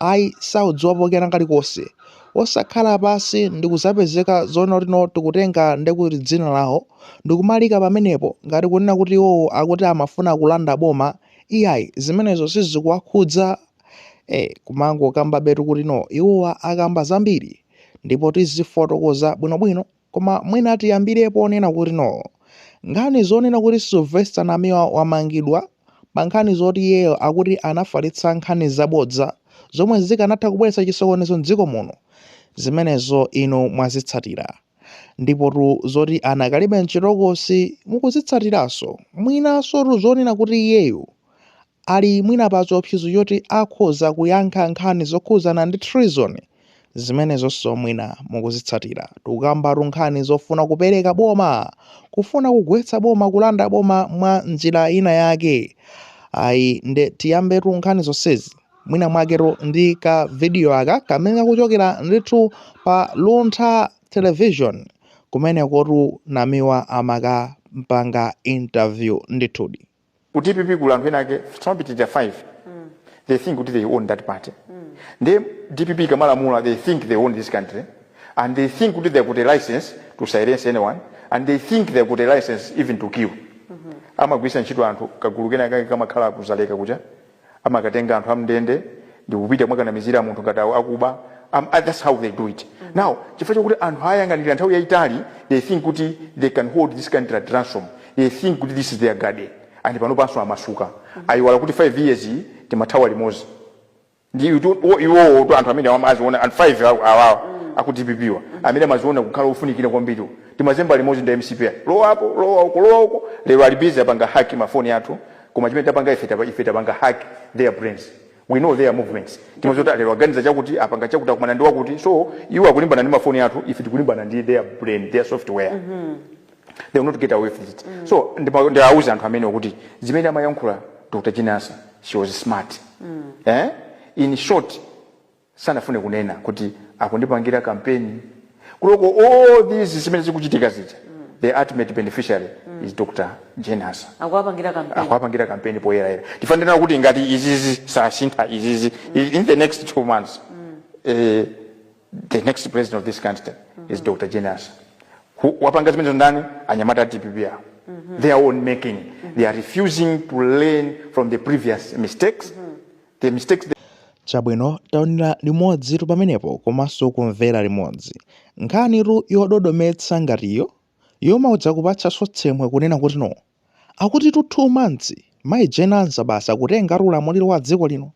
Ayi, saudziwapo kena kalikonse. Osakhala pansi ndi kudzapezeka zoona kuti no tikutenga nde kuti dzina lawo ndi kumaliika pamenepo ngati kunena kuti iwowo akuti amafuna kulanda boma, iyayi zimenezo sizikuwakhudza. Eh, kumangokambabetu kuti no iwowa akamba zambiri ndipo tizifotokoza bwinobwino. Koma mwina tiyambire ponena kuti no. Nkhani zonena kuti Sylvester Namiwa wamangidwa pa nkhani zoti iyeyo akuti anafalitsa nkhani zabodza zomwe zikanatha kubweretsa chisokonezo m'dziko muno, zimenezo inu mwazitsatira. Ndipotu zoti anakalibe m'chitokosi mukuzitsatiranso. Mwinansotu zonena kuti iyeyo ali mwina pa chiopsezo choti akhoza kuyankha nkhani zokhudzana ndi treason, zimenezonso mwina mukuzitsatira, tikukambatu nkhani zofuna kupereka boma, kufuna kugwetsa boma, kulanda boma mwa njira ina yake ayi nde tiyambetu nkhani zonsezi mwina mwaketu ndi ka video aka kamene kakuchokera ndithu pa Luntha Television kumenekotu Namiwa amakampanga interview ndithudi. ku dpp kuli anthu ena ake samapitirira 5 they think kuti they own that party ndiye dpp ikamalamula they think they own this country and they think kuti they got a license to silence anyone and they think they got a license even to kill amagwiritsa ntchito anthu kagulu kena kake kamakhala ku dzaleka kuja amakatenga anthu amndende ndikupita kumakanamizira munthu ngati awo akuba um, uh, that's how they do it mm-hmm. now chifukwa chakuti anthu ayang'anira nthawi yayitali they think kuti they can hold this country at ransom they think kuti this is their garden and pano panso amasuka mm-hmm. ayiwala kuti 5 years timathawa limodzi ndi iwowotu anthu amene amaziona and 5 awawa mm. aku dpp wa mm-hmm. amene amaziona kukhala ofunikira kwambiri timazemba limodzi ndi mcp lowa apo lowa uko lowa uko lero ali busy apanga hack mafoni athu koma chimene tapanga ife tapa, ife tapanga hack their brains we know their movements timadziwa kuti lero aganiza chakuti apanga chakuti akumana ndi wakuti so iwo akulimbana ndi mafoni athu ife tikulimbana ndi their brain their software mm -hmm. they will not get away with it mm -hmm. so ndima- ndiwauza anthu amenewo kuti zimene amayankhula dr jane ansah she was smart mm. eh? in short sanafune kunena kuti akundipangira kampeni kuloko all these zimene zikuchitika zija the ultimate beneficiary is dr jane ansah akuwapangira kampeni akuwapangira kampeni poyerayera ndifuna ndinene kuti ngati izizi sasintha izizi i- in the next two months eh, the next president of this country is dr jane ansah Who- wapanga zimenezo ndani anyamata a dpp awo their own making they are refusing to learn from the previous mistakes the mistakes they. Chabwino taonera limodzitu pamenepo komanso kumvera limodzi. Nkhanitu yododometsa ngati iyo, yomautsa kupatsanso tsemwe kunena kuti no. Akutitu two months, Mayi Jane Ansah basi akutengatu ulamuliro wa dziko lino.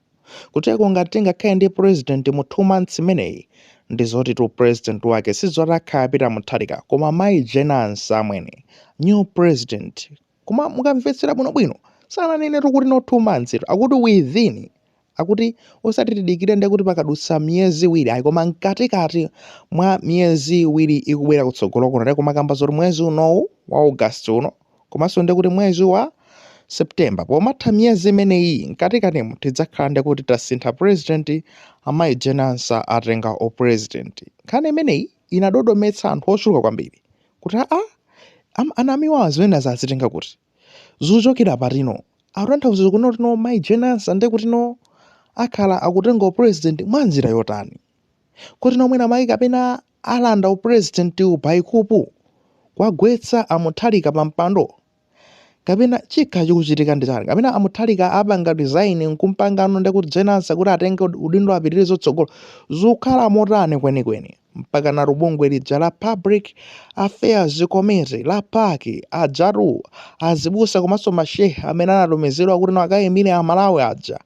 Kuteko ngati tingakhale ndi president mu two months imeneyi, ndi zotitu president wake si zoti akhala Peter Mutharika koma Mayi Jane Ansah amwene. New president, Koma mukamvetsera bwinobwino, sananenetu kuti not 2 monthstu, akuti within, akuti osati tidikire nde kuti pakadutsa miyezi iwiri ayi koma mkatikati mwa miyezi iwiri ikubwera kutsogolo kuno tikumakamba zoti mwezi unowu wa August uno komanso nde kuti mwezi wa September pomatha miyezi imeneyi mkatikatimo tidzakhala nde kuti tasintha president amayi Jane Ansah atenga upresident. Nkhani imeneyi inadodometsa anthu ochuluka kwambiri. kuti aa am anamiwawa zimenezi azitenga kuti? Zuchokera pati no? Akutanthauza kunena kuti no mayi Jane Ansah nde kuti no akhala akutenga u president mwanjira yotani? Kuti no mwina mayi kapena alanda u presidentiwu by kupu? Kuwagwetsa a Mutharika pampando? kapena chikhala chikuchitika ndi chani kapena a Mutharika apanga resign nkumpangano ndi kuti Jane Ansah kuti atenge ud- udindo apitirize zotsogolo zikukhala motani kwenikweni mpaka nalo bungwe lija la public affairs committee la PAC ajatu azibusa komanso mashehe amene anatumizidwa kuti nawo akayimire amalawi aja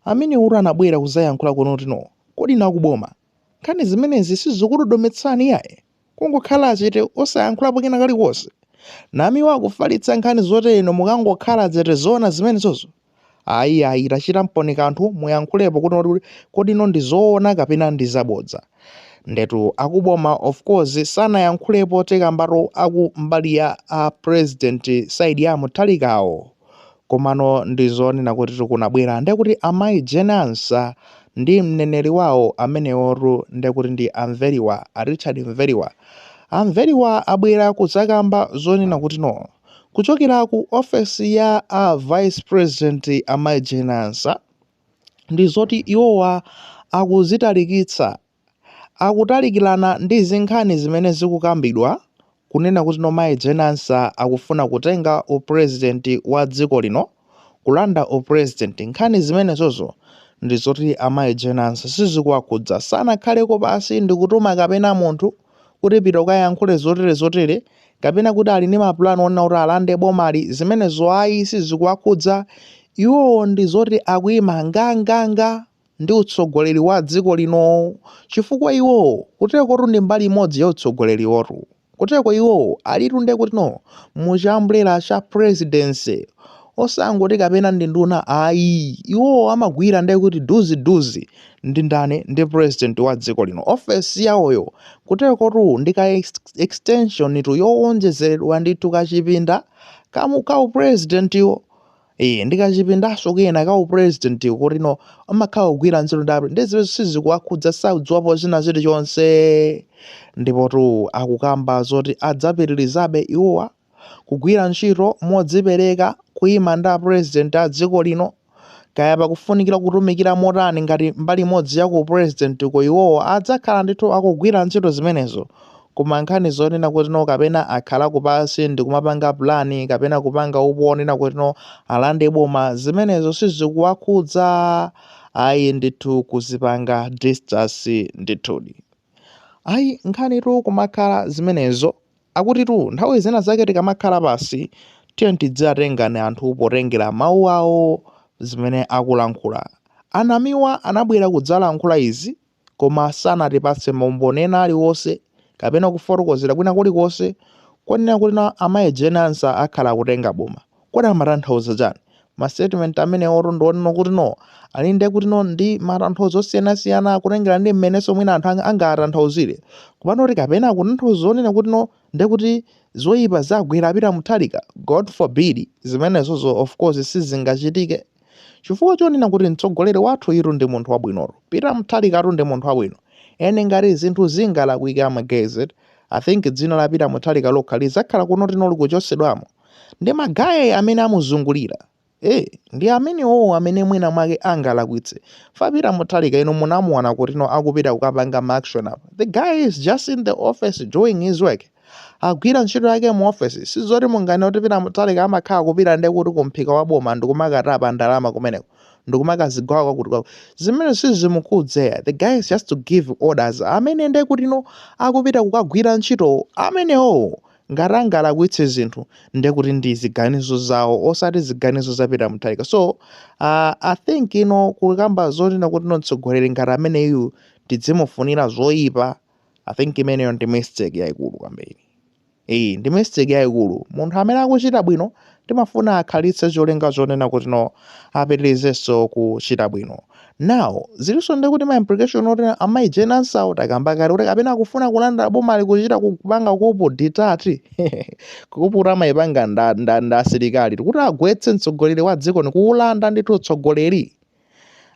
amene uru anabwera kuzayankhula kunena kuti no kodi inu akuboma nkhani zimenezi sizikudodometsani iyayi Kungokhala chete osayankhulapo kena kalikonse? Namiwa akufalitsa nkhani zoti inu mukangokhala chete zoona zimenezozo? Ayi ayi tachitamponi kanthu muyankhulepo kuti kodi no ndi zoona kapena ndi zabodza. Ndetu akuboma of course sanayankhulepo tikambatu aku mbali ya a president side ya a Mutharikawo. Komano ndi zonena kuti kunabwera ndiye kuti amayi Jane Ansah ndi mneneri wawo amenewotu ndiye kuti ndi a Mveriwa, a Richard Mveriwa. A Mveriwa abwera kudzakamba zonena kuti no. Kuchokera ku ofesi ya a Vice President amayi Jane Ansah ndi zoti iwowa akuzitalikitsa akutalikirana ndi zinkhani zimene zikukambidwa kunena kuti no Mayi Jane Ansah akufuna kutenga u president wa dziko lino, kulanda u president, nkhani zimenezozo ndi zoti a Mayi Jane Ansah sizikuwakhudza, sanakhaleko pansi ndikutuma kapena munthu kuti pita ukayankhule zotere zotere, kapena kuti ali ndi ma plan onena kuti alande bomali, zimenezo ayi sizikuwakhudza, iwowo ndi zoti akuyima nga nga nga. ndi utsogoleri wa dziko lino chifukwa iwowo kutekotu ndi mbali imodzi ya utsogoleriwotu kuteko iwowo alitu ndekutino mu chiumbrella cha presidency osangoti kapena ndi nduna ayi iwowo amagwira ndekuti duzi duzi ndi ndani ndi president wa dziko lino ofesi yawoyo kutekotu ndi ka ex extension tu yowonjezeredwa ndithu kachipinda kamu ka upresidentiwo Eee ndi kachipindaso kena ka u president kutino amakhala kugwira ntchito ndi apre nde zimenezo sizikuwakhudza sakudziwapo china chili chonse ndipotu akukamba zoti adzapitirizabe iwowa kugwira ntchito modzipereka kuima ndi a president a dziko lino kaya pakufunikira kutumikira motani ngati mbali imodzi ya ku u president ko iwowa adzakhala ndithu akugwira ntchito zimenezo Koma nkhani zonena kuti no kapena akhala pansi ndikumapanga plan kapena kupanga upo onena kuti no alande boma zimenezo sizikuwakhudza ayi ndithu kuzipanga distance ndithudi. Ayi nkhani tu kumakhala zimenezo akuti tu nthawi zina zake tikamakhala pansi tiye tidziwatenga anthu potengera mawu awo zimene akulankhula. A Namiwa anabwera kudzalankhula izi Koma sanatipatse maumboni ena aliwonse kapena kufotokozera kwina kulikonse konena kuti amayi Jane Ansah akhala akutenga boma. Kodi amatanthauza chani? Ma statement amenewotu ndi onena kutino ali ndi kutino ndi matanthauzo osiyanasiyana kutengera ndi mmenenso mwina anthu angawatanthauzire. Komano kuti kapena akutanthauza zonena kutino nde kuti zoipa zagwera a Peter Mutharika? God forbid! Zimenezozo of course sizingachitike. Chifukwa chonena kuti mtsogoleri wathuyutu ndi munthu wabwinotu, Peter Mutharikatu ndi munthu wabwino, and ngati zinthu zingalakwike a magaye, I think dzina la Peter Mutharika lokha lidzakhala kunoti no likuchotsedwamo, ndi magaye amene amuzungulira, eh, ndi amenewowo amene mwina mwake angalakwitse, chifukwa Peter Mutharika inu munamuona kutino akupita kukapanga ma action apa, the guy is just in the office doing his work. agwira ntchito yake mu office sizoti munganene kuti Peter Mutharika amakhala kupita ndi kuti kumphika wa boma ndikumakatapa ndalama kumeneko ndikumakazigawa kwakuti kwakuti zimene sizimukhudza ayi the guy is just to give orders amene ndi kuti no akupita kukagwira ntchito amenewo ngati angalakwitse zinthu ndi kuti ndi ziganizo zawo osati ziganizo za Peter Mutharika so uh, i think ino kukamba zonena kuti no mtsogoleri ngati ameneyu tidzimufunira zoyipa i think imeneyo ndi mistake yaikulu kwambiri iyi ndi mistake yaikulu munthu amene akuchita bwino timafuna akhalitse cholinga chonena kuti no apitirizenso kuchita bwino now zilinso ndi kuti ma implication oti amayi Jane Ansah takamba kale kuti kapena akufuna kulanda boma ali kuchita kupanga coup d'etat coup d'etat amayipanga nda, nda, nda asilikali kuti agwetse mtsogoleri wa dziko ndi kuulanda ndithu utsogoleri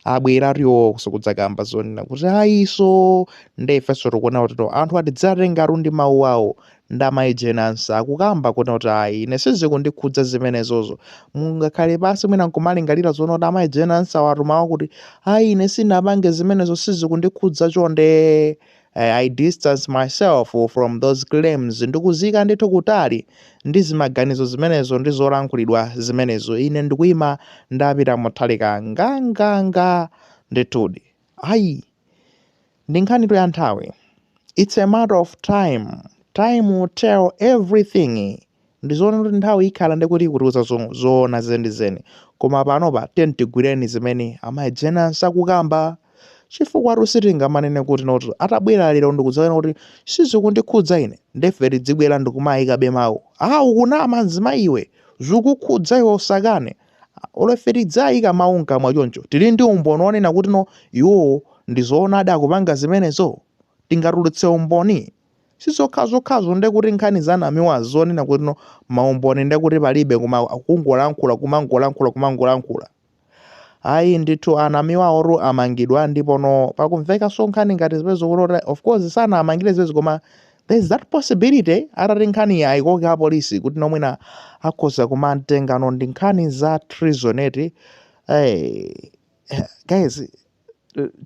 abwera iwo kudzakamba zonena kuti ayiso nde ifenso tikuona kuti no anthu tidziwatengatu ndi mawu awo nde amayi Jane Ansah akukamba kunena kuti ayi ine sizikundikhudza zimenezozo mungakhale pansi mwina nkumalingalira zoona kuti amayi Jane Ansah awatumawo kuti ayi ine sinapange zimenezo sizikundikhudza chonde I, I distance myself from those claims, ndikudziyika ndithu kutali ndi zimaganizo zimenezo ndi zolankhulidwa zimenezo, ine ndikuyima ndi a Peter Mutharika nganganga, ndithudi. Ayi. Ndi nkhanitu ya nthawi. It's a matter of time. Time will tell everything. Ndizoona kuti nthawi ikhala ndikuti ikutiuza zoona zeni zeni koma panopa tiyeni tigwireni zimene amayi Jane Ansah akukamba chifukwatu sitingamanene kuti no atabwera lero ndikudzanena kuti sizikundikhudza ine nde ife tidzibwera ndikumayikabe mawu aa ukunama mzimayi iwe zikukukhudza iwe usakane olo ife tidzayika mawu mkamwa choncho tili ndi umboni onena kuti no iwowo ndizoonadi akupanga zimenezo tingatulutse umboni? si zokha zokhazo nde kuti nkhani za a Namiwa zonena kuti no maumboni nde kuti palibe koma kungolankhula kumangolankhula kumangolankhula ayi ndithu a Namiwawo amangidwa ndipo no pakumvekaso nkhani ngati zimenezo kuti of course sanawamangire zimenezo koma there's that possibility atati nkhaniyi ayikoke apolisi kuti no mwina akhoza kumutengano ndi nkhani za treason eti hey, guys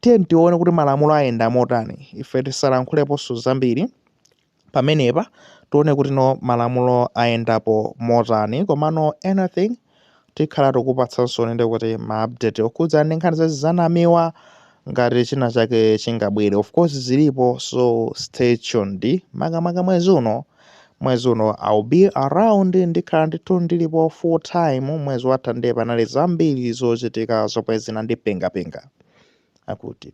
tiyeni tione kuti malamulo ayenda motani ife tisalankhuleponso zambiri pamenepa tione kuti no malamulo ayendapo motani komano anything tikhala tikupatsanso ndithu ma update okhudza ndi nkhani za a Namiwa ngati china chake chingabwere of course zilipo so stay tuned makamaka mwezi uno mwezi uno I'll be around ndikhala ndithu ndilipo full time mwezi watha ndiye panali zambiri zochitika zomwe zinandipingapinga akuti